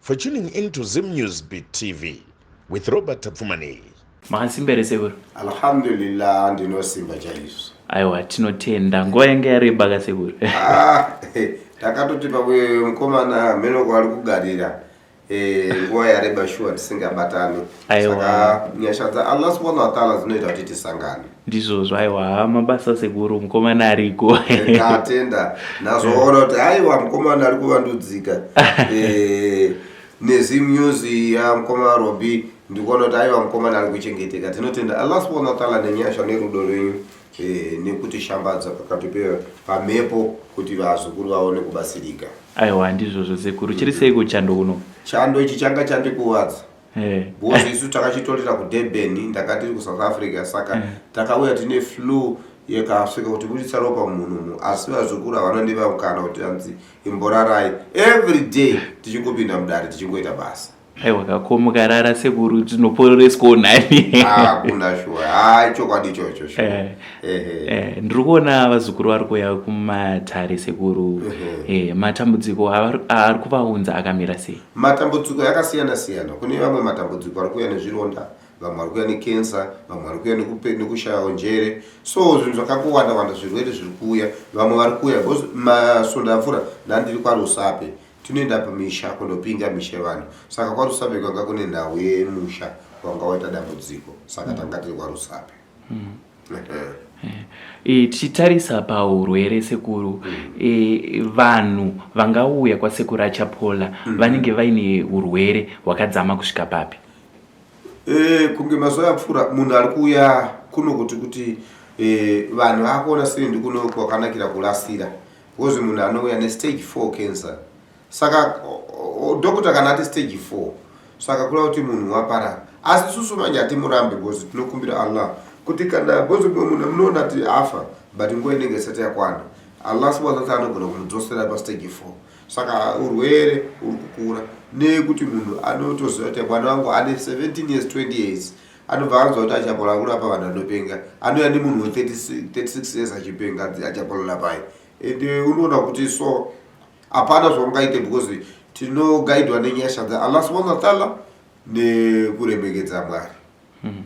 For tuning in to Zim News Beat TV with Robert Tapfumani. Makansimba here sekuru? Alhamdulillah ndinosimba chaizvo. Aiwa tinotenda nguva yanga yareba ka sekuru. Ah, takatoti pamwe mukomana ameno kwaari kugarira eh, nguva yareba shuwa tisingabatani. Aiwa. Saka nyasha dzaAllah subhanahu wa ta'ala dzinoita kuti tisangane. Ndizvozvo aiwa haa mabasa sekuru mukomana ariko. Ndatenda ndazoona kuti aiwa mukomana ari kuvandudzika. Eh nezi music ya mukoma Robi ndikuona kuti aiwa mukomana ari kuchengeteka. Tinotenda Allah subhanahu wa ta'ala nenyasha nerudo rwenyu. Eh, nekuti shambadza pakati pamhepo kuti vazukuru vaone kubatsirika aiwa ndizvozvo sekuru chiri sei kuchando kuno chando ichi changa chandikuvadza Eh. because isu takachitorira kudurban ndakatiri kusouth africa saka eh. takauya tine flu yekasvika kuti buditsa ropa munhu asi vazukuru havanondiva mukana kuti anzi imborarai every day tichingopinda mudare tichingoita basa aiwa kakomukarara sekuru tinopororeswawo nani ah, kuna shuwa ha ah, chokwadi ichocho eh, eh, ndiri kuona vazukuru vari kuuya kumatare sekuru eh, matambudziko aari kuvaunza akamira sei Matambudziko yakasiyana siyana kune vamwe matambudziko ari kuuya nezvironda vamwe vari kuuya nekensa vamwe vari kuuya nekushayawo njere so zvinhu zvakakuwanda wanda zvirwere zviri kuuya vamwe vari kuuya bcause masunda apfuura ndandiri kwarusape tinoenda pamisha kunopinga misha yevanhu saka kwarusape kwanga kune nhau yemusha wanga waita dambudziko saka tanga tiri kwarusape mm. E, tichitarisa paurwere sekuru e, vanhu vangauya kwasekuru achapola mm. vanenge vaine urwere hwakadzama kusvika papi e, kunge mazuva apfuura munhu ari kuuya kuno kuti kuti e, vanhu akuona siri ndikuno kwakanakira kurasira kozi munhu anouya nestage four cancer saka doctor kana ati stage 4 saka kula kuti munhu waparara asi isusu manje hatimurambe bcause tinokumbira allah kuti kana bcause munhu munoona ti afa but nguva inenge isati yakwana allah subhana wataala anogona kumudzosera pastage 4 saka urwere uri kukura nekuti munhu anotoziva kuti mwana wangu ane 17 years 20 years anobva anzwa kuti achapolora kurapa vanhu anopenga anouya nemunhu we36 years achipenga achapolora pai ende unoona kuti so hapana zvaungaite because tinogaidwa nenyasha dzaallah subhana wataala nekuremekedza mwari hmm.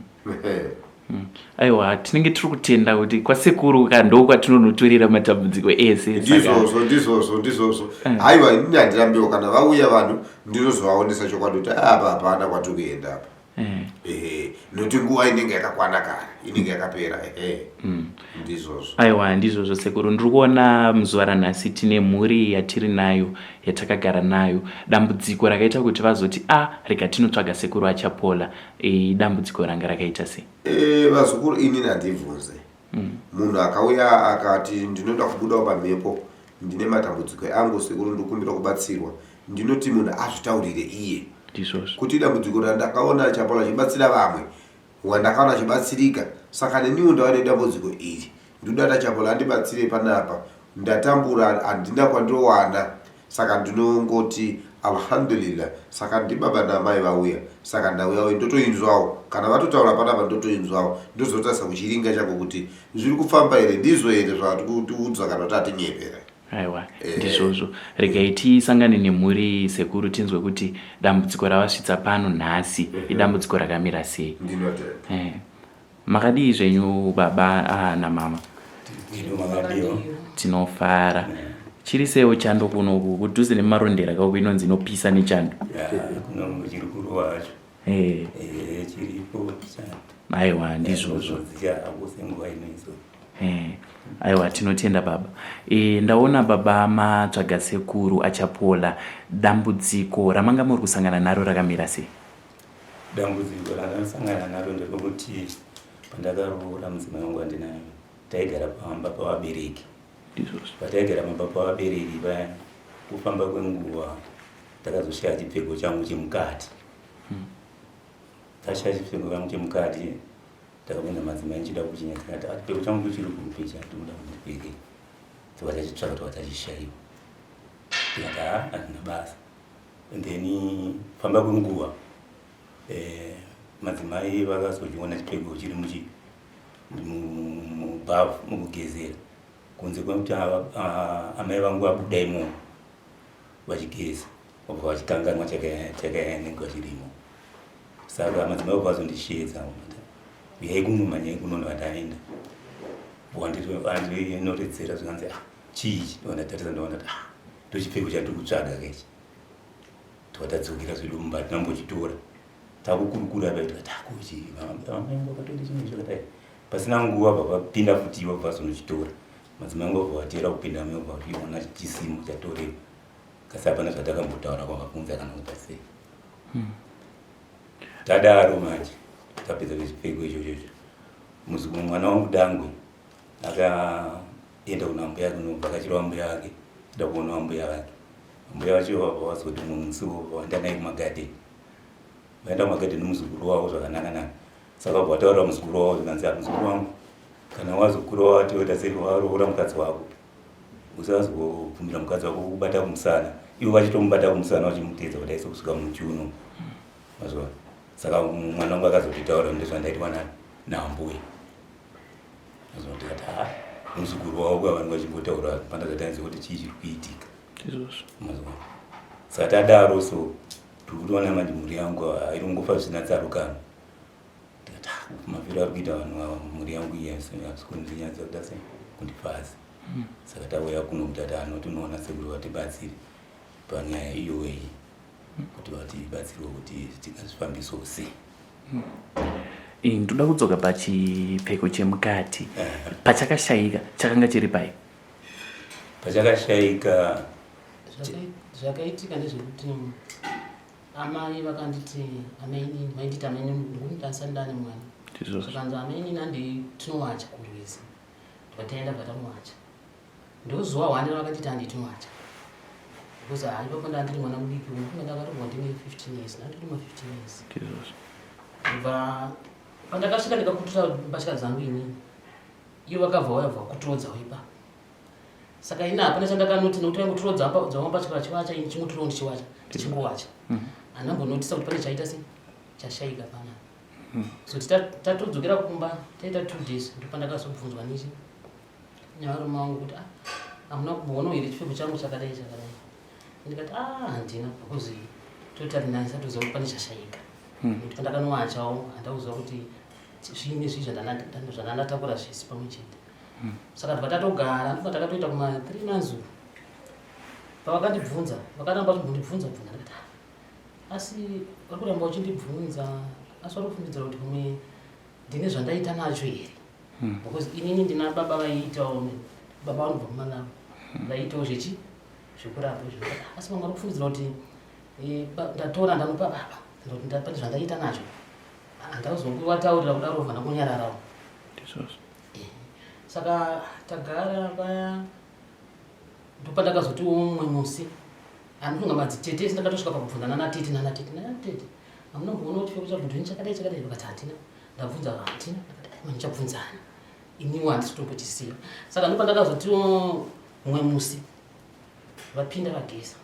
hmm. aiwa tinenge tiri kutenda kuti kwasekuru ka ndo kwatinonotorera matambudziko ese ndizvozvo ndizvozvo ndizvozvo eh. haiwa inini handirambiwo kana vauya vanhu ndinozovaonesa chokwadi kuti apa hapana kwatiri kuenda apa Eh. ehe nokuti nguva inenge yakakwana kare inenge yakapera ehe Mm. ndizvozvo aiwa ndizvozvo sekuru ndiri kuona muzuva ranhasi tine mhuri yatiri nayo yatakagara nayo dambudziko rakaita kuti vazoti a rega tinotsvaga sekuru achapola e, dambudziko ranga rakaita sei Eh, vazukuru inini handibvunze munhu akauya akati ndinoda kubudawo pamhepo ndine matambudziko angu sekuru ndikumbira kubatsirwa ndinoti munhu azvitaurire iye kuti dambudziko randakaona chapolo achibatsira vamwe wandakaona achibatsirika saka neniwo ndava nedambudziko iri ndodada chapolo andibatsire panapa ndatambura handina kwandowana saka ndinongoti Alhamdulillah saka ndibaba naamai vauya saka ndauyawo ndotoinzwawo kana vatotaura panapa ndotoinzwawo ndozotarisa kuchiringa changu kuti zviri kufamba here ndizvo here zvatikutiudza kana kuti atinyepera aiwa eh. ndizvozvo regai tisangane nemhuri sekuru tinzwe kuti dambudziko ravasvitsa pano nhasi mhm. idambudziko rakamira sei ndinotenda eh. Makadii zvenyu baba ah, namama? Tinofara chiri sewo chando kuno kudhuze nemarondera kauko inonzi inopisa nechando aiwa ndizvozvo aiwa tinotenda baba e, ndaona baba matsvaga sekuru achapola dambudziko ramanga muri kusangana naro rakamira sei Dambudziko randakasangana naro nderokuti pandakaroora mudzimai wangu wandinaye taigara pamba pavabereki pataigara pamba pavabereki paya kufamba kwenguva ndakazoshiya chipfeko changu chemukati hmm. ndashiya chipfeko changu chemukati ndakabvunza madzimai ndichida kuchinya tikati ah, chipfeko changu kuchiri kupi chatinoda kundipfekei tikatachitsvaka tikatachishaiwa tikati ha ah, handina basa and then famba kwenguva eh, madzimai vakazochiona chipfeko chiri muchi mubhavu mukugezera kunze kwekuti amai vangu vabuda imo vachigeza vabva vachikanganwa chakayanengwa chirimo saka madzimai vabva vazondisheedza uyai kuno manyai kuno ndivataenda wandinoredzera zvikanzi ah, chii ndovandatarisa ndovanati ah, ndochipfeko chatiri kutsvaga kechi twatadzokera zvedu mumba hatina mbochitora takukurukura apa tikati akuchi amai angu akatoita chinhu chakadai pasina nguva vavapinda futi ivo vazonochitora madzimai angu vabva vatera kupinda amai vabva vationa chisimo chatorewa kasi hapana zvatakambotaura kwavabvunza kana kuita sei hmm. tadaro manje tapedza nezvipfeko izvozvozvo mwana wangu dangwe aka enda kuna mbuya kunovhakachirwa mbuya vake enda kuonawa mbuya vake mbuya vacho vabva vazoti mumwe musi vaenda naye kumagadeni vaenda kumagadeni muzukuru wavo zvakanakanaka saka vabva vataurira muzukuru wavo zvikanzi muzukuru wangu kana wazokura wati woita sei waroora mukadzi wako usazobvumira mukadzi wako kubata kumusana ivo vachitomubata kumusana vachimutedza kuti aise kusvika muchuno mazvona saka mwana wangu akazototaura ndezvandaitwa nani naambuya azondikati ha muzukuru wavo kuva vanhu vachingotaura pandakatainza kuti chii chiri kuitika izvozvo mazwa saka tadaro so tiri kutoona manje mhuri yangu hairi kungofa zvisina tsarukano ndikati ha ah, mafiro ari kuita vanhu ava mhuri yangu iya hapisi kundinyatsa kuda se kundifasi hmm. saka tauya kuno kuti ati anoti unoona sekuri vatibatsiri panyaya iyoweyi kuti vatibatsirwe kuti tingazvifambiso sei eh, ndoda kudzoka pachipfeko chemukati eh. pachakashayika chakanga chiri pai pachakashayika zvakaitika ndezvekuti amai vakanditi amainini vainditi amainini ndikunditasa ndane mwana zvakanzi amainini anditinowacha kurwizi ndikataenda vatamuwacha ndozuva hwani ravakatiti handiti mwacha because haiva kwenda andiri mwana mudiki uyu kunge ndakatombwa ndine 15 years nandiri ma 15 years ndobva pandakasvika ndikakutura mbatya dzangu inini iyo vakabva vauya bva kuturodza wepa saka ini hapana chandakanoti nokuti vaingoturodza dzavo mbatya vachivacha ini chingoturo ndichiwacha ndichingowacha mhm. hana mbonotisa kuti pane chaita se chashaika pana mhm. so tatodzokera kumba taita two days ndopandakazobvunzwa nichi nyaro mangu kuti ah, hamuna kumboona here chipfeko changu chakadai chakadai ndikati a ah, handina because totari nani satoziva kuti pane chashaika hmm. nekuti ndakanowachawo handauziva kuti zviine zvii zvandandatakura zvese pamwe chete hmm. saka tibva tatogara ndibva takatoita kuma three months uku pavakandibvunza vakaramba vachibvundibvunza bvunza ndikati ah, asi vari kuramba uchindibvunza asi vari kufungidzira kuti pamwe ndine zvandaita nacho here hmm. because inini ndina baba vaiitawo baba vanobva kumanavo hmm. vaiitawo zvechi zvekurapa izvo asi vanga vari kufungidzira kuti eh, ndatora ndanopa baba pane zvandaita nazvo handazokuvataurira kudaro vana kunyararawo eh, saka tagara paya ndopandakazotiwo mumwe musi anofunga madzi tete ndakatosvika pakubvunzana natete nanatete nanatete hamuna kuona kuti fekuti chakudhini chakadai chakadai vakati hatina ndabvunza vati ndichabvunzani iniwo handisi kutombotisiya saka ndipo ndakazoti mumwe musi vapinda vageza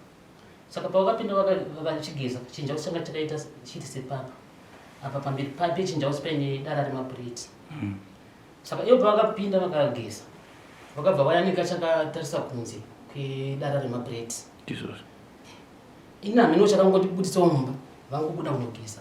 saka pavakapinda vachigeza chinjausi changa chakaita chiti sepapa apa pamberi papi chinjausi paine dara remapureti mm. saka ivo pavakapinda vakageza vakabva vayanika chakatarisa kunze kwedara remapureti ini hameno chakangondibuditsawo mumba vangobuda kunogeza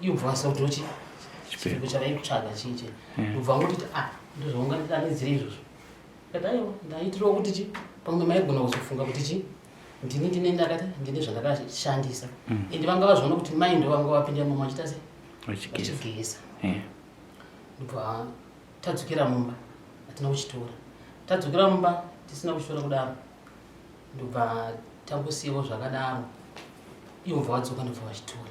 Imbwa sotochi. Chipiko chavaikutsvaga chiche. Hmm. Ubva kuti ah ndozvaunga ndidanidzire izvozvo. Kadaiwo ndaitirawo kuti chi pamwe maigona kuzofunga kuti chi ndini ndine ndakati ndine zvandakashandisa. Hmm. Ende vanga vazviona kuti mai ndo vanga vapinda mumwe vachita sei? Vachigeza. Hmm. Ubva tadzokera mumba atina kuchitora. Tadzokera mumba tisina kuchitora kudaro. Ndobva tangusiyawo zvakadaro ivo bva vadzoka ndobva vachitora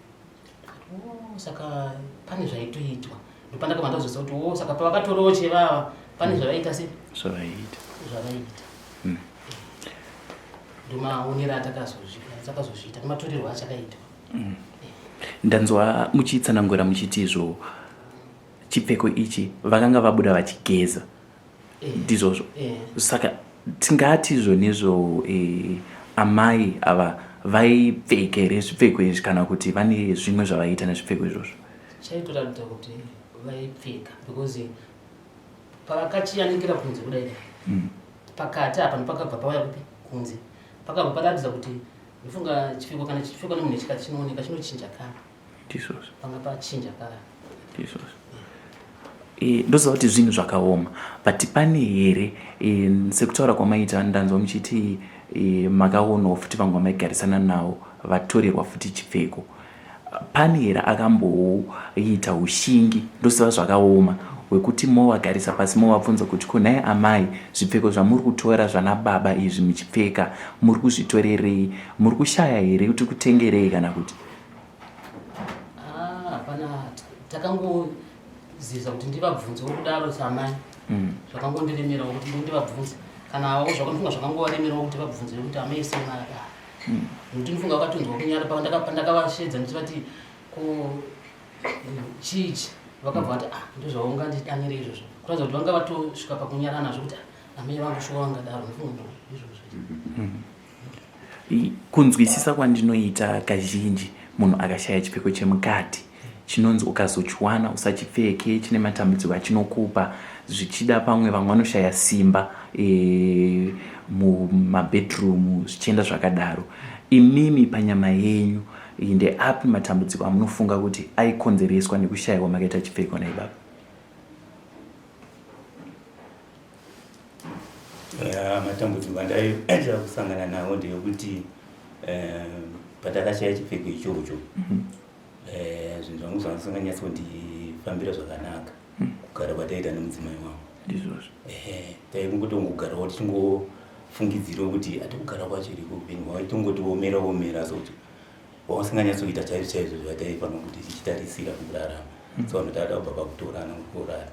oh, saka pane zvaitoitwa ndopandakabva ndazvisa kuti o oh, saka pavakatorawo chevava pane zvavaiita se zvavaiita zvavaiita hmm. ndomaonera atakazozviita nematorerwo achakaitwa hmm. ndanzwa muchitsanangura muchiti izvo chipfeko ichi vakanga vabuda vachigeza ndizvozvo saka tingati zvonezvo eh, amai ava vaipfeka here zvipfeko izvi kana kuti vane zvimwe zvavaiita nezvipfeko izvozvo chaitoratidza kuti vaipfeka because pavakachiyanikira kunze kudai dai hmm. pakati apa ndopakabva pauya kupi kunze pakabva paratidza kuti ndofunga chipfeko kana chipfeko nemunhu chikati chinooneka chinochinja kana tisos panga pachinja paya tisos eh, ndoziva kuti zvinhu zvakaoma but pane here eh, sekutaura kwamaita ndanzwa muchiti eh, makaonawo futi vanga maigarisana nawo vatorerwa futi chipfeko pane here akamboita ushingi ndoziva zvakaoma wekuti movagarisa pasi movabvunza kuti ko nhai amai zvipfeko zvamuri kutora zvana baba izvi muchipfeka muri kuzvitorerei muri kushaya here kuti kutengerei kana kuti Ah, hapana takangoziza kuti ndivabvunzewo kudaro samai mm. zvakangondiremerawo kuti ndivabvunze kana avo zvakanofunga zvakangovaremerawo kuti vabvunze kuti amai semai aa mm. nokuti ndinofunga vakatonzwa kunyara pandakavashedza ndichivati ko chichi vakabva vati ah ndozvaungandidanire izvozvo kuratidza kuti vanga vatosvika pakunyarana zvokuti ah, amai vangu shuwa vangadaro ndinofunga izvozvo mm-hmm. kunzwisisa kwandinoita kazhinji munhu akashaya chipfeko chemukati chinonzi ukazochiwana usachipfeke chine matambudziko achinokupa zvichida pamwe vamwe vanoshaya simba e, mumabedroom zvichienda zvakadaro imimi panyama yenyu ndeapi matambudziko amunofunga kuti aikonzereswa nekushayiwa makaita chipfeko naibaba Eh, matambudziko andaiitira kusangana nawo ndeyekuti eh, patakashaya chipfeko ichocho mhm. eh, zvinhu zvangu zvanga zvisinganyatsi kundifambira zvakanaka mhm. kugara kwataiita nemudzimai wangu ndizvozvo taikungotongogarawo tichingofungidzirawo kuti atikugara kwacho iriko upenyu hwavo itongotiomera omera sokuti wausinganyatsi kuita chaizvo chaizvo zvataifanira kuti tichitarisira kurarama mhm. so vanhu taada kubva pakutorana kukurara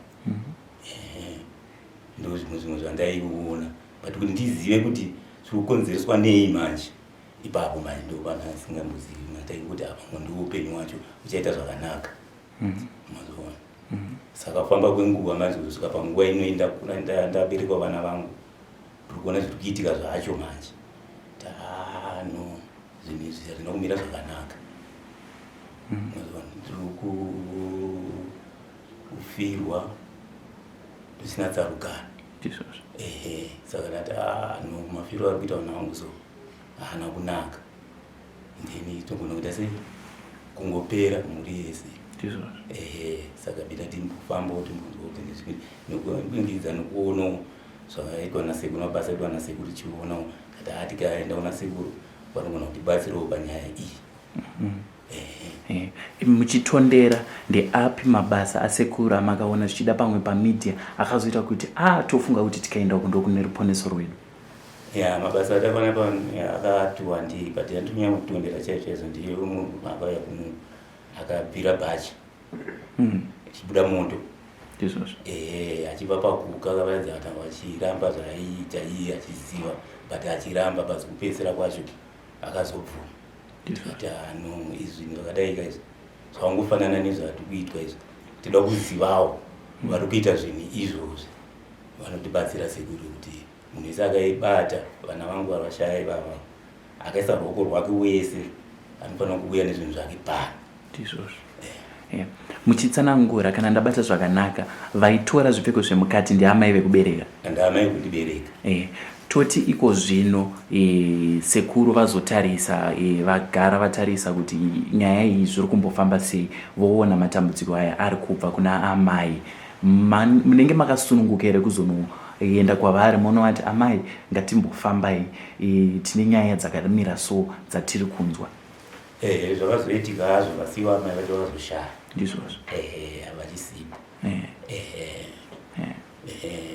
ndo zvimwe zvimwe zvandaikuona but kuti ndizive kuti zviri kukonzereswa nei manje ipapo manje ndo vanhu asingambozivi mataikuti apa ngondi upenyu wacho uchaita zvakanaka mhm. mazoona mhm. saka kufamba kwenguva manje kusvika panguva inoenda ndaberekwa vana vangu tiri kuona zviri kuitika zvacho manje tano zvinhu izvi hazvina kumira zvakanaka mhm. mazoona tiri ku kufirwa zvisina tsarukano ehe saka ndati ah, no mafiro ari kuita vana vangu so haana kunaka then togona kuita sei kungopera mhuri yese ehe saka bita timbofambawo timbozootenezvinekuingiza nekuonawo zvakaitwa nasekuru mabasa aitwa nasekuru tichionawo kati ati kaenda kuna sekuru vanogona kutibatsirawo panyaya iyi mm-hmm. muchitondera ndeapi mabasa asekuru amakaona zvichida pamwe pamedia akazoita kuti a tofunga kuti tikaenda uku ndokune ruponeso rwedu ya mabasa atakaona pa akati wandii but yandonyanya kutondera chaicho chaizo ndiye umwe akauya kuno akabvira bhachi hmm. achibuda moto ndizvozvo ehe achibva pakuka kavaidza kana vachiramba zvaiita iye achiziva but achiramba basi kupedzisira kwacho akazobvuma ndikati hano ah, izvi ndakadaika izvi zvakangofanana nezvati kuitwa izvi tida kuzivawo vari kuita zvinhu izvozvi vanotibatsira sekuru kuti munhu wese akaibata vana vangu varashaya ivava akaisa ruoko rwake wese anofanira kuuya nezvinhu zvake pano ndizvozvo yeah. muchitsanangura kana ndabata zvakanaka vaitora zvipfeko zvemukati ndiamai vekubereka ndiamai kundibereka yeah. toti iko zvino e, sekuru vazotarisa e, vagara vatarisa kuti nyaya iyi zviri kumbofamba sei voona matambudziko aya ari kubva kuna amai Man, munenge makasununguka here kuzono enda kwavari monovati amai ngatimbofambai e, tine nyaya dzakamira so dzatiri kunzwa ehe zvakazoitika hazvo vasiwa amai vacho vakazoshaya ndizvozvo ehe havachisipo ehe ehe ehe ehe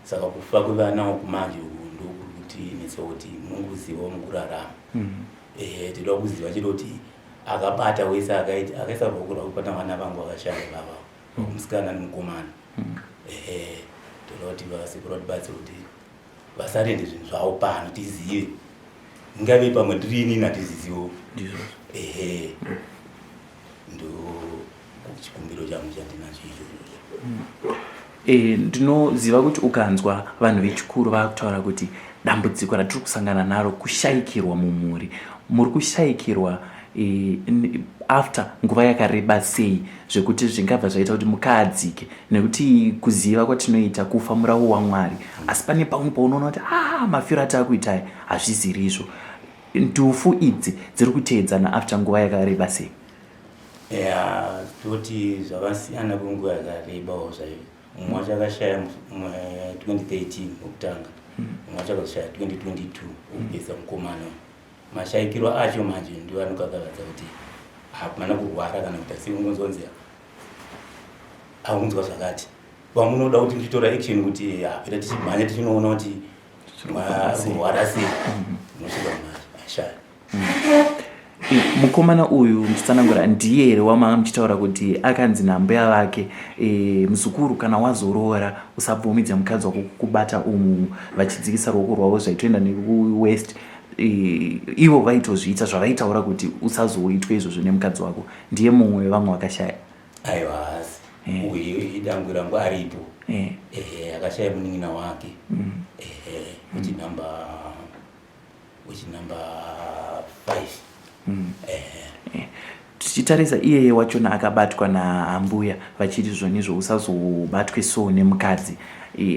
saka kufa kwevana uku manje uku ndokuri kuti netse kuti munguzivawo mukurarama Mhm. ehe tinoda kuziva chete kuti akabata wese akaita akaisa ruoko rwake kubata vana vangu vakashaya vava musikana nemukomana ehe tinoda kuti vasikura tibatsira kuti vasarende zvinhu zvavo pano tizive ngave pamwe tiri inini hatiziziwo ehe ndo chikumbiro changu chandinacho ichocho e, ndinoziva kuti ukanzwa vanhu vechikuru vakutaura kuti dambudziko ratiri kusangana naro kushayikirwa mumhuri muri kushayikirwa e, after nguva yakareba sei zvekuti zvingabva zvaita kuti mukaadzike nekuti kuziva kwatinoita kufa muravo wamwari asi pane pamwe paunoona kuti a ah, mafiro ataakuitai hazviziri izvo ndufu idzi dziri kuteedzana after nguva yakareba sei ya toti zvakasiyana kwenguva yakarebawo zvaio mumwe wacho akashaya 2013 wokutanga mumwe wacho akazoshaya 2022 wokupedza mukomana Mashaikiro acho manje ndiwo anokakavadza kuti hapana kurwara kana kuti asi ungonzonzi aunzwa zvakati vamunoda kuti ndichitora action kuti eh, hapera tichimhanya tichinoona kuti kurwara sei unosvika manje ashaya mukomana uyu nditsanangura ndiye here wamaa muchitaura kuti akanzi nambuya vake e, muzukuru kana wazoroora usabvumidze mukadzi wako kukubata umu vachidzikisa ruoko rwavo zvaitoenda nekuwest ivo vaitozviita zvavaitaura kuti usazoitwe izvozvo nemukadzi wako ndiye mumwe wevamwe vakashaya aiwa hasi eh. uyu idangwi rangu aripo eh. eh, akashaya munin'ina wake mm. uchinumber uchinumber five mm. eh. tichitarisa iyeye wachona akabatwa naambuya vachiti zvonizvo usazobatwe so nemukadzi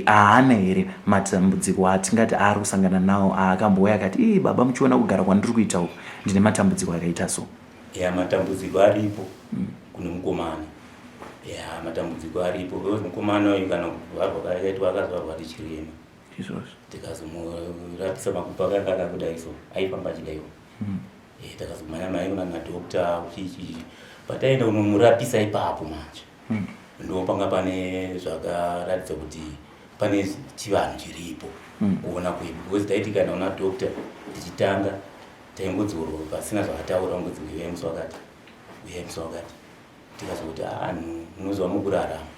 haana here matambudziko atingati aari kusangana nawo aakambouya akati ii baba muchiona kugara kwandiri kuita uku ndine matambudziko akaita so ya matambudziko aripo mm. kune mukomana ya matambudziko aripo because mukomana uyu kana kuvharwa kaakaitwa akazvarwa ndichirema izvozvo tikazomurapisa makupa kakaka kudai so aifamba achidaiwo mm. e, eh, takazomhanya mhanya kuna madokta uchichi pataenda unomurapisa ipapo manje mm. ndopanga pane zvakaratidza kuti pane chivanhu chiripo mm. kuona kwedu because taiti kana una dokta tichitanga taingodzorwa pasina zvakataura ngozi uyai musi wakati uyai musi wakati tikazokuti anhu ah, munoziva mukurarama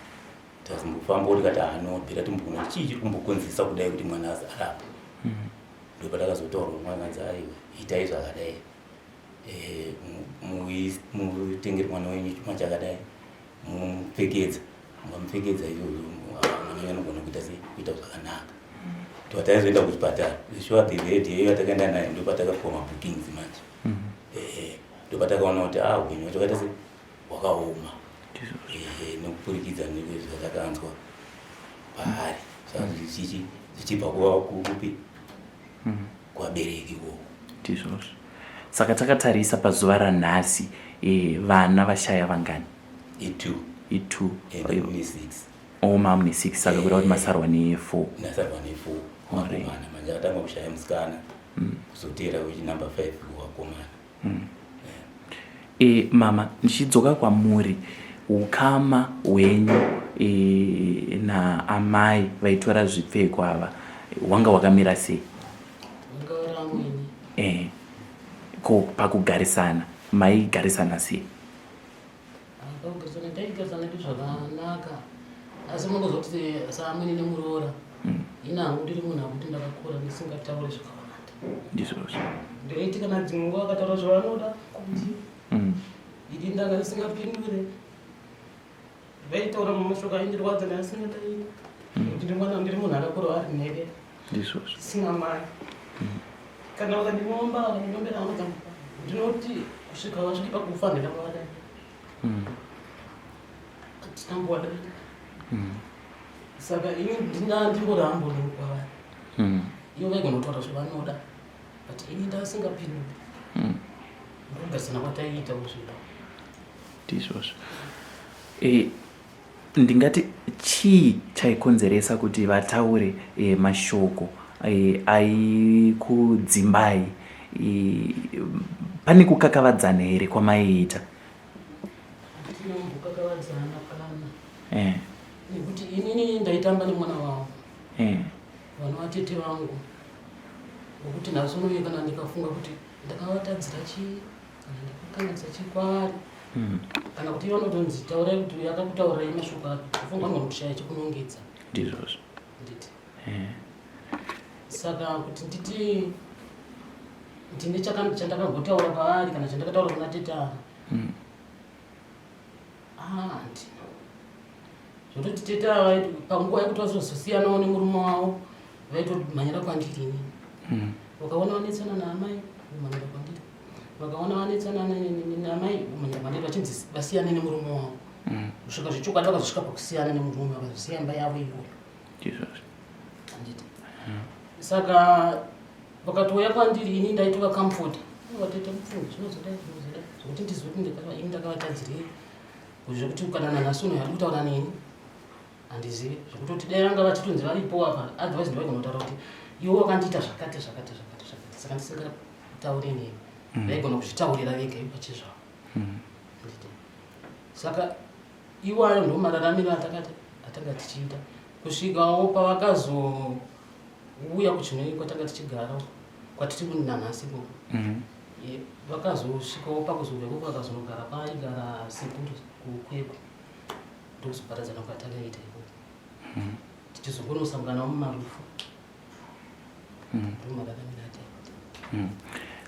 tazimbofamba kuti kati anobvira ah, timbokona chii chiri kumbokonzesa kudai kuti mwana azi arapa mm-hmm. ndopatakazotaurwa mwana anzi aiwa itai zvakadai eh, mutengere mwana wenyu chuma chakadai mumupfekedza mupfekedza iyoyo mwana wenyu anogona kuita sei kuita zvakanaka pataizoenda kuchipatara sure the lady iyoyo atakaenda naye ndopatakapiwa mabookings manje mm-hmm. eh, ndopatakaona kuti ah upenyu wacho kaita sei hwakaoma eh, nekupurikidza nezvatakanzwa paari sazvichichi zvichibva kuva kupi hmm. kwabereki koko ndizvozvo saka takatarisa pazuva ranhasi eh, vana vashaya vangani itu itu oma mune six saka kuda kuti masarwa nefour nasarwa nefour makomana manje akatanga kushaya musikana hmm. kuzoteera wechinumber five wakomana Hmm. E, mama ndichidzoka kwamuri ukama hwenyu e, naamai vaitora zvipfeko ava wanga wakamira sei e, ko pakugarisana maigarisana sei Akagezana taigezana ndi zvakanaka asi munozoti saamwene nemuroora mm. ina hangu ndiri munhu akuti ndakakura ndisingataure zvakawanda ndizvozvo ndoiti kana dzimwe nguva akataura zvavanoda kuti mm. idi ndanga ndisingapindure vaitaura mumashoko aindirwadza naasingataii kuti ndimwana ndiri munhu akakura ari nhede ndizvozvo sina mari mm. kana vakandinomba vakandimbera vanoda ndinoti kusvika vasvike pakufa handina kuvada mm. hatina kuvada mm. saka ini ndingaa ndingoramba ndinokwavari iyo vaigonotaura zvavanoda but ini ndasingapinduri ndogarisana kwataiita kuzvida ndizvozvo eh, Ndingati chii chaikonzeresa kuti vataure e, mashoko e, aikudzimbai e, pane kukakavadzana here kwamaiita? Tinokakavadzana pana e. nekuti inini ndaitamba nemwana wavo e. vana vatete vangu nokuti nhasi unoye kana ndikafunga kuti ndakavatadzira chii Hmm. kana kuti vanotonzi taurai kuti uyu akakutaurai mashoko ako afunga anogona kushaya chekunongedza ndizvozvo nditi eh. saka kuti nditi ndine chandakambotaura paari kana chandakataura kuna teta hmm. handi ah, zvototi teta panguva yekuti vazozosiyanawo nemurume wavo vaitomhanyira kwandiri ini hmm. wakaona vanetsana naamai vomhanyira kwandiri vakaona vanetsana namai munyamani vachinzi vasiyane nemurume wavo mm. kusvika zvechokwadi vakazosvika pakusiyana nemurume vakazosiya imba yavo iyoyo anditi mm. saka vakatouya kwandiri ini ndaitova kamfota vatete mupfumi zvinozoda zvinozoda zvokuti ndizive kuti ini ndakavatadzirei zvekuti kana nanhasi uno yari kutaura neni handizivi zvekutoti dai vanga vachitonzi varipo apa otherwise ndaigona kutaura kuti iwe wakandiita zvakati zvakati zvakati zvakati saka ndisingataure nemi mm. vaigona kuzvitaurira vega ivo pachezvavo mm. saka iwayo ndo mararamiro atakati atanga tichiita kusvikawo pavakazouya kuchinoi kwatanga tichigara kwatiti kunanhasi ko mm. vakazosvikawo pakuzoveko kwakazonogara paigara sekuru kukwekwe ndokuzoparadzana kwatakaita iko hmm. tichizongonosanganawo mumarufu hmm. ndomakakanirata hmm.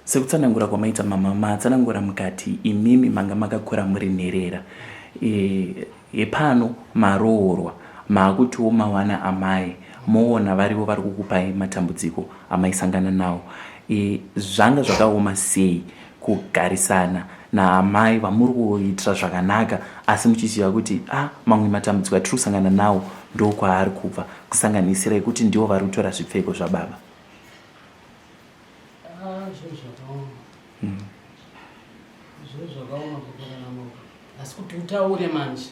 sekutsanangura kwamaita mama matsanangura mukati imimi manga makakura muri nherera e, yepano maroorwa maakutiwo mawana amai moona varivo vari kukupai matambudziko amaisangana nawo e, zvanga zvakaoma sei kugarisana naamai vamuri kuitira zvakanaka asi muchiziva kuti a ah, mamwe matambudziko atiri kusangana nawo ndokwaari kubva kusanganisira ekuti ndivo vari kutora zvipfeko zvababa ah, hmm. asi kuti utaure manje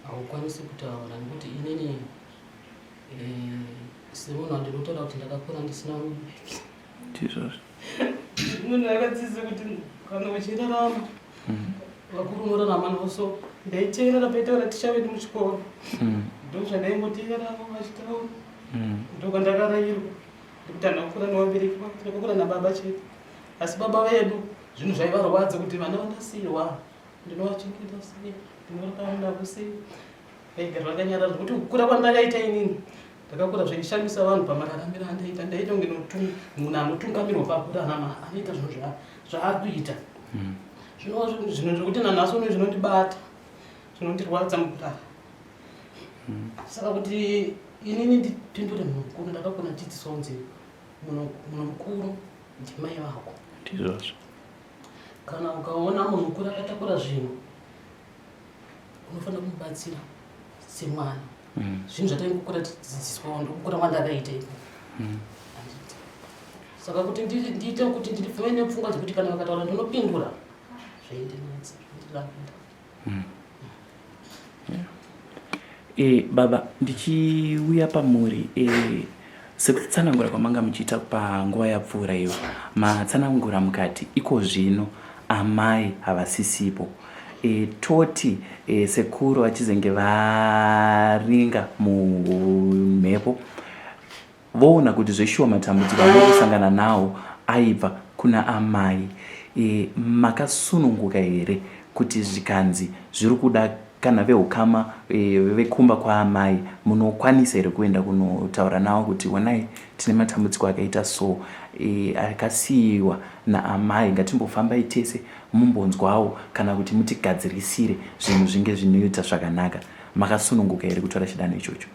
haukwanisi kutaura nekuti inini eh, semunhu wandinotaura kuti ndakakura ndisina mubereki ndizvozvo munhu akadzidza kuti kana uchirarama mm. vakuru unorarama navo so ndaiteerera paitaura ticha vedu muchikoro mm. ndozvandaingoteereravo vachitaura mm. ndokandakarayirwa ndikuti andakukura nevabereki vavo ndakakura nababa chete asi baba vedu zvinhu zvaivarwadza kuti vana vanasirwa ndinovachengeta sei ndinorarama navo sei ndaiga zvakanyara zvekuti kukura kwandakaita inini ndakakura zvechishamisa vanhu pamararamiro andaita ndaita kunge munhu anotungamirwa pakura anama anoita zvinhu zvaakuita hmm. zvinova zvinhu zvekuti nanhasi uno zvinondibata zvinondirwadza mukurara hmm. saka kuti inini ndipindure munhu mukuru ndakakona dzidziso kunzi munhu mukuru ndimai vako ndizvozvo kana ukaona munhu mukuru akatakura zvinhu unofanira kumubatsira semwana mm. zvinhu zvatanga kukura tidzidziswa wando kukura mwana akaita ipo mm. saka kuti ndiite kuti ndirifume nepfungwa dzekuti kana vakataura ndinopindura zvaindenetsa zvaindirambira mm. E, baba ndichiuya pamuri e, Sekutsanangura kwamanga muchiita panguva yapfuura iyo, matsanangura mukati iko zvino amai havasisipo. E, toti e, sekuru vachizenge varinga mumhepo voona kuti zveshuwa matambudziko amai kusangana nawo aibva kuna amai e, makasununguka here kuti zvikanzi zviri kuda kana vehukama eh, vekumba kwaamai munokwanisa here kuenda kunotaura navo kuti wonai tine matambudziko akaita so eh, akasiyiwa naamai ngatimbofambai tese mumbonzwawo kana kuti mutigadzirisire zvinhu zvinge zvinoita zvakanaka makasununguka here kutora chidanho ichocho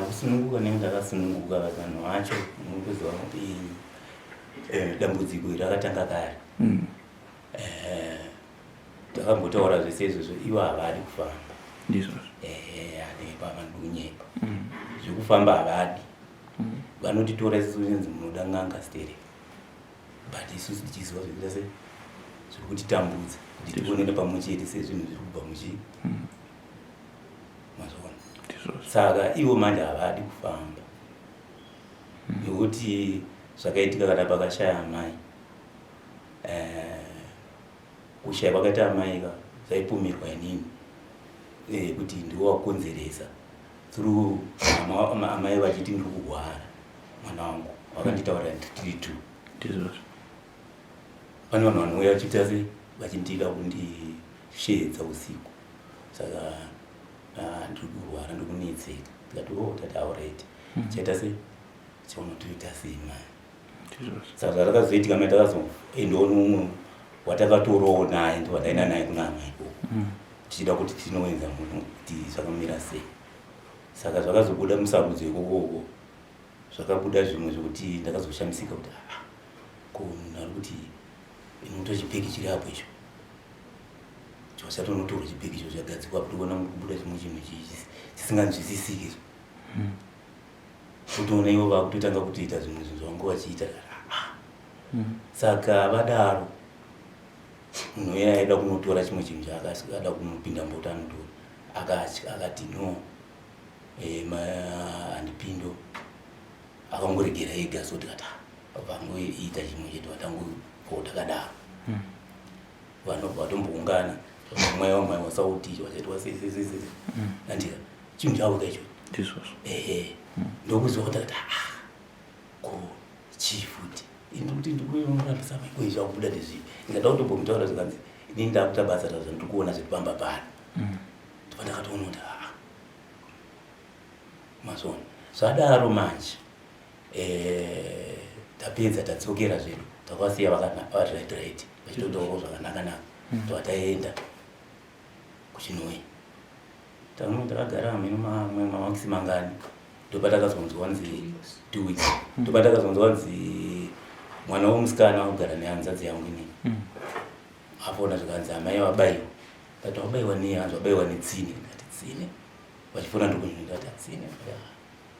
kusununguka nenge ndakasununguka vavanhu vacho nokuziva eh, dambudziko iri rakatanga kare mm. eh takambotaura zvese izvozvo ivo havadi kufamba ndizvozvo eh anepa vanonyepa mm. zvekufamba havadi mm. vanotitora isu zvinzi munoda n'anga stere but isu tichiziva zvekuita se zviri kutitambudza kuti tionene pamwe chete sezvinhu zviri kubva muchi mm. mazvona saka ivo manje havadi kufamba nekuti zvakaitika kana pakashaya amai eh, kushaya kwakaita amai ka zvaipomerwa inini eh, kuti ndiwo wakonzeresa through amai vachiti ndiri kurwara mwana wangu vakanditaurira tiri two ndizvozvo pane vanhu vanouya vachiita se vachindiita kundisheedza usiku saka ah, ndiri kurwara ndikunetseka ndikati o oh, tati auraiti hmm. chaita sei chaunotoita sei mai saka zvakazoitika mai takazoendawo nomumwe watakatorowo naye ndo wataenda naye kuna amai ikoko mm. tichida kuti tinoenza muno kuti zvakamira sei saka zvakazobuda musarudzo ikokoko zvakabuda zvimwe zvekuti ndakazoshamisika kuti aa ah, ko munhu ari kuti inoto chipeki chiri apo icho chosatonotorwa chipeki icho zvagadzikwa kuti ona mukubuda chimwe chinhu chisinganzwisisiki mm. kutoona ivo vakutotanga kutoita zvimwe zvinhu zvavanga vachiita hmm. saka vadaro munhu uye aida kunotora chimwe chinhu chaakada kunopinda mbota anotora akatya akati no eh, andipindo akangoregera ega so tikata vangoita chimwe chedu vatangopo takadaro hmm. vanhu vatomboungana mweya wamwari wasautizva vachaitwa sesesese mm. andira chinhu chavo kaicho ndizvozvo ehe mm. ndokuziva kuti akati aa ah, ko chii futi ndikuti ndikuinorambisa maikoi zvakubuda ndezvii ndikada kutombomutaura zvikanzi inini ndakuta basa tazva ndiri kuona zviri pamba pano mm. ndipa ndakatoona kuti aa ah. mazvona zvadaro manje eh, tapedza tadzokera zvedu takavasiya vakati right right vachitotaurawo zvakanaka naka hmm. tova taenda kuchinoi tamwe takagara hameno mamwe mamakisi mangani ndopatakazonzwa wanzi two weeks hmm. ndopatakazonzwa wanzi mwana womusikana wakugara nehanzadzi yangu inini hmm. afona zvikanzi amai vabaiwa kati wabaiwa nei hanzi wabaiwa netsine ndikati tsine vachifona ndikunyini ndikati atsine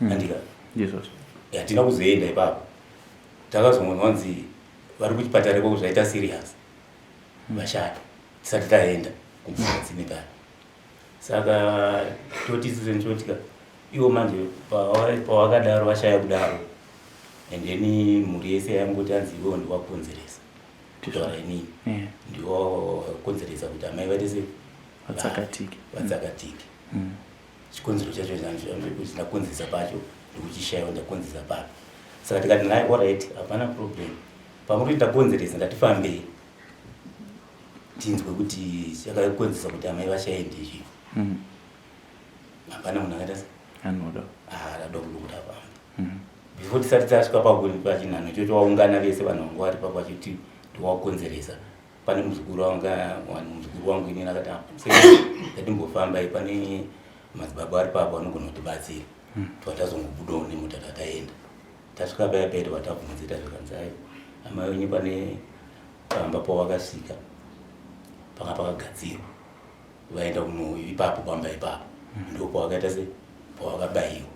mm. andika hatina kuzoenda ipapo takazongonwa hanzi vari kuchipatara ikoko zvaita serious mm. vashata tisati taenda kumukadzini kaya saka toti sisenchotika iwo manje pawakadaro vashaya kudaro and then mhuri yese yangoti anzi iwewo ndiwakonzeresa kutaura inini ndiwakonzeresa kuti amai vatese vatsakatike vatsakatike mm. chikonzero chacho ndakonzesa pacho ndikuchishaiwa ndakonzesa papi saka tikati naye orit hapana problem pamuri ndakonzeresa ndatifambei tinzwe kuti chakakonzesa kuti amai vashaende izvi mm. hapana munhu akaita anoda aada kuda apa mm. before tisati tasvika pachinhanho chocho waungana vese vanhu vangu vari papachoti ndiwakonzeresa pane muzukuru wangu wani muzukuru wangu inini akati ngatimbofambai pane madzibaba ari papa vanogona kutibatsira hmm. tova tazongobudawo nemuta tataenda tasvika paya paya tova tabvunzita zvikanzai amai wenyu pane pamba pawakasvika panga pakagadzirwa vaenda kuno ipapo pamba ipapo hmm. ndo pawakaita se pawakabayiwa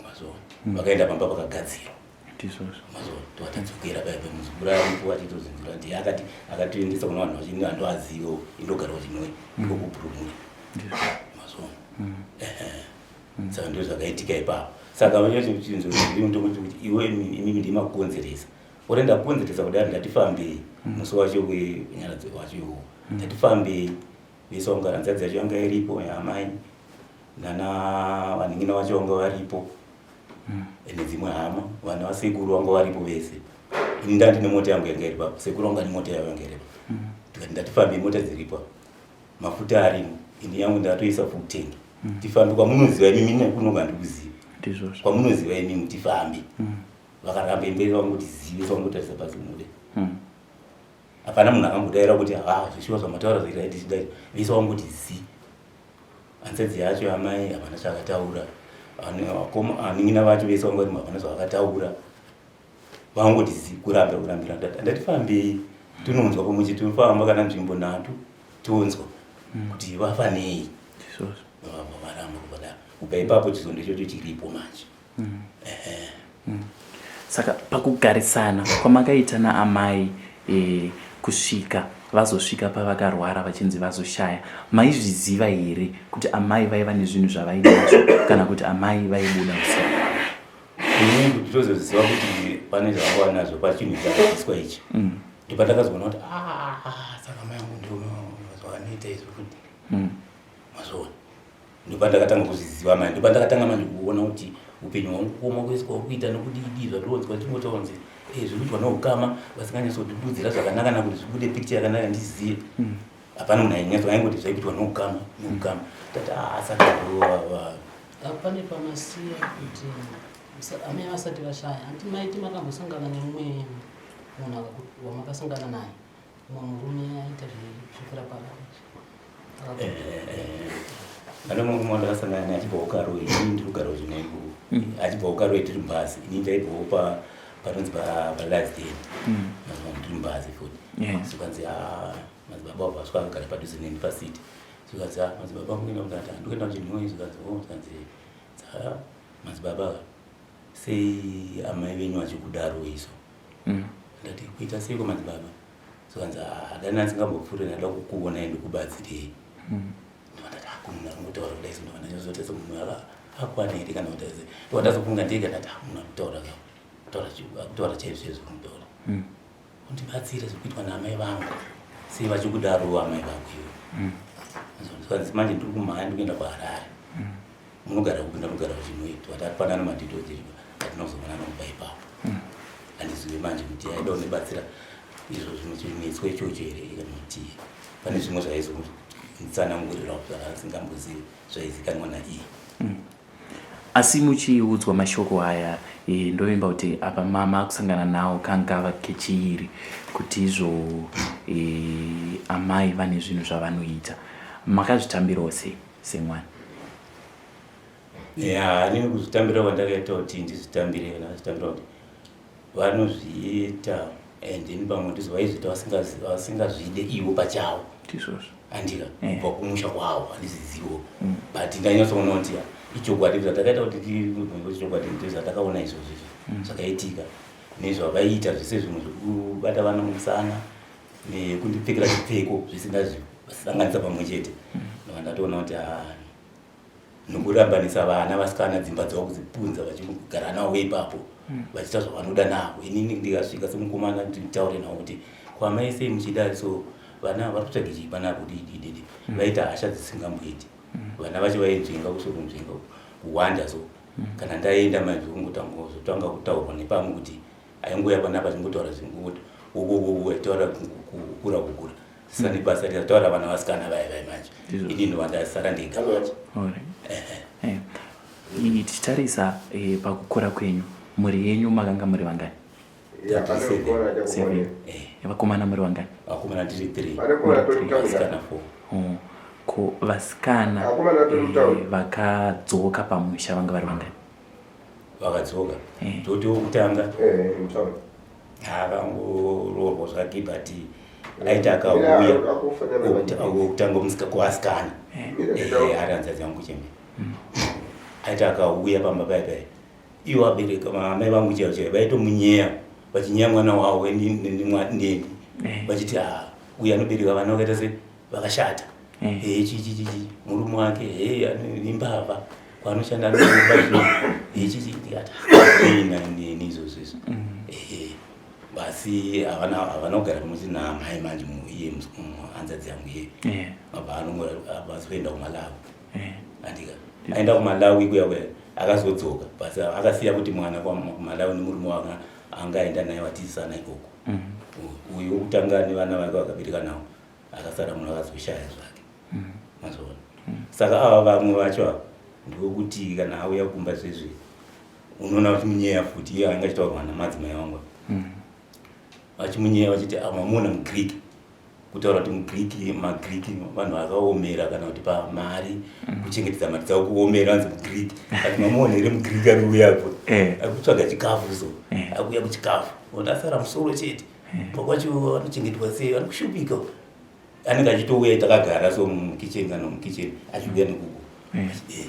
mazona hmm. vakaenda pamba pakagadzirwa tisvosvo twatadzokera paya pemuzukuru aripo achitozinzira kuti akati akatiendesa kuna vanhu vachini vanhu vazivo indogara vachinoi iko kupurumura mazoona saka ndo zvakaitika ipapo saka vanyachinzo zviri mutombo chekuti iwe imimi ndimakukonzeresa ore ndakukonzeresa kudai ndatifambei mm. musi wacho wenyaradzi wacho iwo mm. ndatifambei vese vanga hanzadzi yacho yanga iripo yaamai nana vaningina vacho vanga varipo mm. ende dzimwe hama vana vasekuru vanga varipo vese ini ndati nemota yangu yanga iri papo sekuru vanga nemota yavo yanga iripo mm. tikati ndatifambe mota dziripo mafuta arimo ini yangu ndatoisa fukutengi mm. tifambe kwamunoziva imi mine kunonga ndikuziva kwamunoziva imi mutifambe vakaramba imberi vangu tizive vangu tarisa pazimude hapana munhu akambodaira kuti haa zvishuwa zvamataura zvaita ndisida vese wangoti zi ansezi yacho amai hapana chaakataura aningina vacho vese wangoti hapana zvavakataura vangoti zi kuramba kurambira ndati fambei tinonzwa pamuchi tinofamba kana nzvimbo nhatu tonzwa hmm. kuti vafanei varamba kubada kubva ipapo chizondo ichocho chiripo manje mm. mm. saka pakugarisana kwamakaita naamai e, kusvika vazosvika pavakarwara vachinzi vazoshaya maizviziva here kuti amai vaiva nezvinhu zvavaida nazvo kana kuti amai vaibuda usiku kuti tozoziva kuti pane zvavava nazvo pachinhu chakaiswa ichi mm. ndipatakazoona kuti ah, saka mai angu ndivanoita izvo kuti mm. mazviona ndopandakatanga kuzviziva manje ndopandakatanga manje kuona kuti upenyu hwangu kuoma kwese kwauri kuita nokudidii zvatonzwa tingotaunzi e eh, zvekuitwa noukama vasinganyatsotidudzira zvakanaka na kuti zvibude picture yakanaka ndizive hmm. hapana munhu ainyatso aingoti zvaikuitwa noukama noukama tati asaka ah, apane pamasiya kuti amai vasati vashaya hanti maiti makambosangana nemumwe munhu wamakasangana naye Murume aita zvekurapa vanhu. Eh, eh, eh. Pane mumwe mwana ndakasangana naye achibva kukaro ini ndiri kugara zvinengu. Mm. Achibva kukaro tiri mubhazi. Ini ndaibvawo pa panonzi pa pa last day. Mm. Mazwa ndiri mubhazi futi. So kanzi ah madzibaba wabva swaka kugara padhuze neni pasiti. So kanzi ah madzibaba mungenda mungata ndikuenda kuchinhoyi so kanzi oh kanzi ah madzibaba sei amai venyu vachikudaro iso. mm. ndati kuita seiko madzibaba sokanzi hadani ah, asingambopfuure ndada kukuonai ndikubatsirei mm. ndovandati akunhu ah, akungotaura kudai so ndovanda nyazotaisa munhu ava akwana here kana kutaise ndovandazofunga ndega ndati amunhu ah, akutaura ka kutaura chaizvo chaizvo kutaura mm. undibatsire zvikuitwa naamai vangu sei vachikudaro amai vangu ivo manje ndiri kumhanya ndikuenda kuharare munogara kupi ndamugara kuchimwiti but atipanana madetails edu atinozoonana kuba ipapo hmm. handizive manje kuti aida undibatsira izvo zvinochinetswa ichocho here kana kuti pane zvimwe zvaizonitsanangurirawo zvaasingambozivi zvaizikanwa naiye hmm. asi muchiudzwa mashoko aya eh, ndovimba kuti apa mama akusangana nawo kangava kechiiri kuti izvo eh, amai vane zvinhu zvavanoita makazvitambirawo sei semwana ya ini kuzvitambira kwandakaita kuti ndizvitambire kana zvitambira kuti vanozviita and ini pamwe ndizvo vaizviita vasingazvide ivo pachavo ndizvozvo andika eh. kubva kumusha kwavo handizvizivo mm. but ndanyatsoona kuti ichokwadi zvatakaita kuti tichokwadi ndo zvatakaona izvozvo izvo mm. zvakaitika nezvavaiita zvese zvimwe zvekubata vana musana nekundipfekera zvipfeko zvisingasanganisa pamwe chete ndova ndatoona kuti ah, nokurambanisa vana vasikana dzimba dzavo kudzipunza vachigara navo ipapo hmm. vachiita zvavanoda navo inini ndikasvika semukomana nditaure navo kuti kwamai sei muchida so vana vari kutsvage chii pana kuti idididi hmm. vaita hasha dzisingamboiti hmm. vana vacho vainzvenga kusokunzvenga kuwanda so kana ndaenda mai zvokungotangawo zvotanga kutaurwa nepamwe kuti Aingouya panapa achingotaura zvingoti ubububu aitaura kukura kukura saka hmm. nebasa rikataura vana vasikana vaya vaya manje ini ndovandasara ndega manje eh, tichitarisa eh, pakukura kwenyu mhuri yenyu makanga muri vangani vakomana muri vangani vakomana tiri three vasikana four oh, ko vasikana eh, vakadzoka pamusha vanga vari vangani vakadzoka eh. toti wokutanga akangoroorwa zvake but aita akauya okutanga omusika kuasikana aranza dzangu chembe aita akauya pamba pai pai iwo abereka amai vangu chaivo chaivo vaitomunyeya vachinyeya mwana wavo neni vachiti uyu anobereka vana vakaita sei vakashata eh chichi chichi murume wake eh imbavha kwanoshanda anoba zvino eh chichi ndikati ina nini izvozvo izvo eh basi havana havana kugara pamusi namai manje iye hanzadzi yangu iye mabva anongoabasi kuenda kumalawi andika aenda kumalawi kuya kuya akazodzoka basi akasiya kuti mwana kumalawi nemurume wanga angaenda naye watizisana ikoko uyu wokutanga nevana vake vakabereka nawo akasara munhu akazvishaya zvake mm. mazvona mm. saka ava vamwe vacho ava ndokuti kana auya kumba zvezve unoona kuti munyeya futi iye anga achitaurwa namadzimai vangu mm. vachimunyeya vachiti amamuona ah, mugreek kutaura kuti mugreek magreek vanhu vakaomera kana kuti pamari kuchengetedza mari dzavo kuomera anzi mugreek ati mamuona here mugreek ari uyapo eh. akutsvaga chikafu so eh. akuya kuchikafu otasara musoro chete Baba wacho vanochengetwa sei? Vanokushupika uko. Anenge achitouya takagara so mukitchen kana mukitchen achiuya nekuku. Eh. Eh,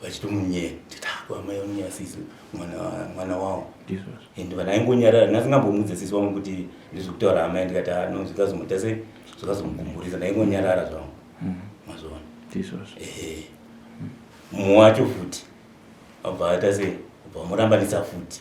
Vachitomunyeya. Tita kwamai vanonyeya sisi mwana mwana wavo. Jesus. And vana aingonyarara ndasingambomudze sisi wangu kuti ndizvi kutaura amai ndikati "Ah, no zvikazomuita sei? Zvikazomukumburisa ndaingonyarara zvangu. Mm. Mazviona. Jesus. Ehe. Mumwe wacho futi. Abva aita sei? Abva amurambanisa futi.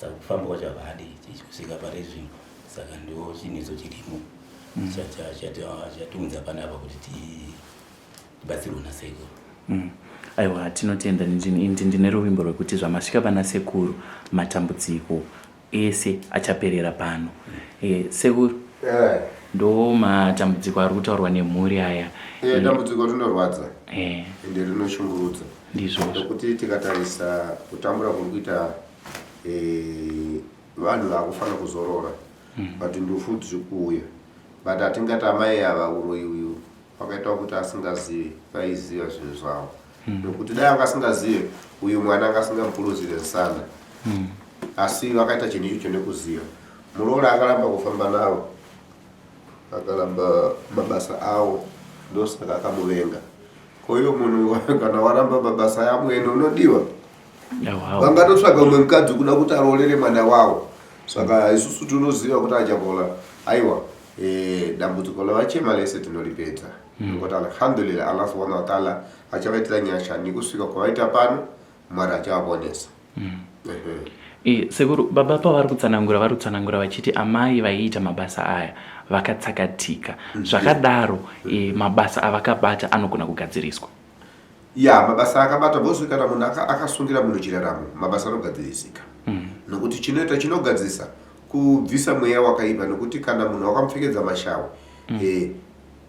saka kufamba kwacho havadi kusvika pari zvino saka ndo chinhu icho chirimo mm. chatiunza panapa kuti tibatsirwe nasekuru mm. aiwa tinotenda ndi ndine ruvimbo rwekuti zvamasvika pana sekuru matambudziko ese achaperera pano mm. eh, sekuru eh. ndo matambudziko ari kutaurwa nemhuri aya eh, dambudziko rinorwadza ende rinoshungurudza ndizvozvo nekuti tikatarisa kutambura kuri kuita eh, vanhu vakufanira kuzorora hmm. but ndufu dziri kuuya but hatingati amai ava uroyi uyu wakaita kuti asingazive vaiziva zvinhu zvavo hmm. nokuti dai anga asingazive uyu mwana anga asingamupuruzire nsana hmm. asi vakaita chinhu ichocho nekuziva muroora akaramba kufamba navo akaramba mabasa avo ndosaka akamuvenga koiyo munhu kana waramba mabasa yamwene unodiwa vangatotsvaga umwe mukadzi kuda kuti aroorere mwana wavo saka isusu tinoziva kuti achabola aiwa eh, dambudziko lavachema lese tinolipedza mm. ngokuti alhamdulillah allah subhana wataala achavaitira nyasha nekusvika kwavaita pano mwari achavaponesa mm. eh, sekuru baba pavari kutsanangura vari kutsanangura vachiti amai vaiita mabasa aya vakatsakatika mm. zvakadaro eh, mabasa avakabata anogona kugadziriswa ya mabasa akabata bhozi kana munhu akasungira munhu chiraramo mabasa anogadzirisika mm. nokuti chinoita chinogadzirisa kubvisa mweya wakaipa nokuti kana munhu wakamupfekedza mashawe mm. e,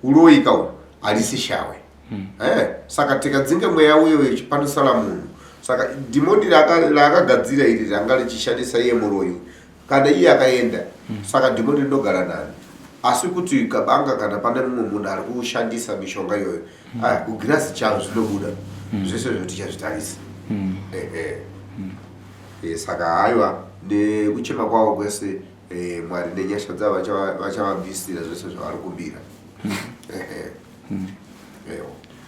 uroyi kawo harisi shawe mm. e, saka tikadzinge mweya uyo wechipanisala munhu saka dhimoni raakagadzira iri ranga richishandisa iye muroyi kana iye akaenda mm. saka dhimoni rinogara nani asi kuti kabanga kana pane mumwe munhu ari kushandisa mishonga iyoyo mm. ah, kugirasi charo zvinobuda mm. zvese zvo tichazvitarisa mm. ehe mm. e, saka haiwa nekuchema kwavo kwese e, mwari nenyasha dzavo vachavabvisira zvese zvavari kumbira mm. ehe Hmm.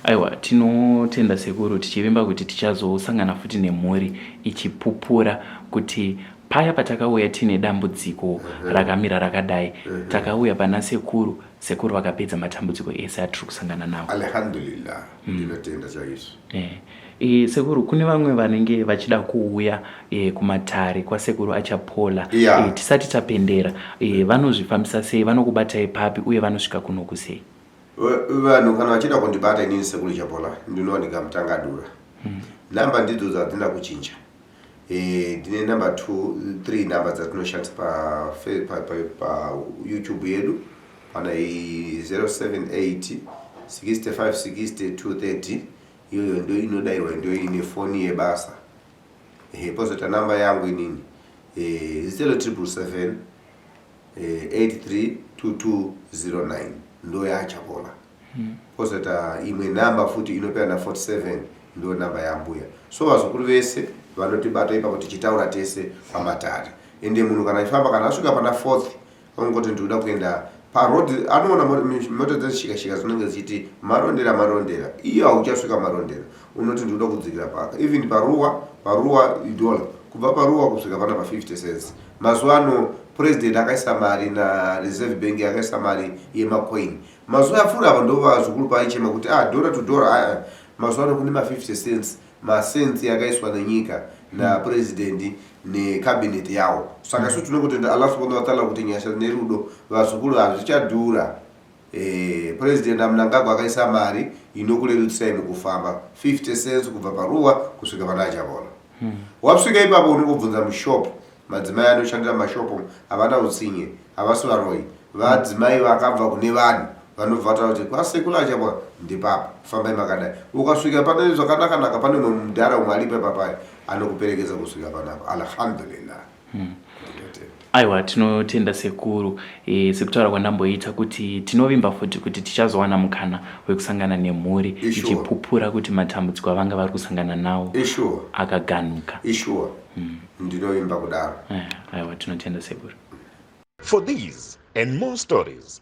Aiwa, tinotenda sekuru tichivimba kuti tichazosangana futi nemhuri ichipupura kuti paya patakauya tine dambudziko rakamira rakadai takauya pana sekuru sekuru vakapedza matambudziko ese atiri kusangana nawo alhamdulillah hmm. ndinotenda chaizvo eh. E, sekuru kune vamwe vanenge vachida kuuya e, kumatare kwasekuru achapola yeah. e, tisati tapendera e, vanozvifambisa sei vanokubatai papi uye vanosvika kunoku sei vanhu kana vachida kundibata inini sekuru chapola ndinowanika mutangadura hmm. namba ndidzo dzadzina kuchinja eh, ndine e, number t three number dzatinoshandisa payoutube pa, pa, pa, pa yedu pana 078 65 62 30 iyoyo ndo inodairwa ndo ine foni yebasa e, pozoita namba yangu inini e, eh, 077 832209 eh, ndo yaachakola hmm. kozoita imwe namba futi inopera na 47 ndo namba yambuya so vazukuru vese vanotibata ipapo tichitaura tese pamatare ende munhu kana aifamba kana asvika pana fourth ongoti ndikuda kuenda paroad anoona mota dzezvishikashika dzinenge dzichiti marondera marondera iyo hauchasvika marondera unoti ndoda kudzikira paka even paruwa paruwa idola kubva paruwa kusvika pana pa 50 cents mazuva ano president akaisa mari na reserve bank akaisa mari yemacoin mazuva apfuura ava ndova zvikuru paichema kuti ah dora to dora aa ah, ah. mazuva ano kune ma 50 cents macents yakaiswa nenyika na president necabinet yawo saka su tinongotenda allah subhanahu wataala kuti nyasha nerudo vazukuru hazvichadhura Eh, President Mnangagwa akaisa mari inokurerutsirai mukufamba 50 cents kubva paruwa kusvika pana achavona hmm. wasvika ipapo unongobvunza mushop madzimai anoshandira mashopo havana utsinye havasi varoi vadzimai vakabva kune vanhu vanobva vataura kuti kwasekula achavona ndipapa fambai makadai ukasvika pane zvakanakanaka pane mwe mudhara umwe alipa papai anokuperekedza kusvika panapo alhamdulillah Hmm. Aiwa tinotenda sekuru e, sekutaura kwandamboita kuti tinovimba futi kuti tichazowana mukana wekusangana nemhuri ichipupura kuti matambudziko avanga vari kusangana nawo akaganuka. Ishuwa. Hmm. Ndinovimba kudaro. Eh, aiwa tinotenda sekuru. For these and more stories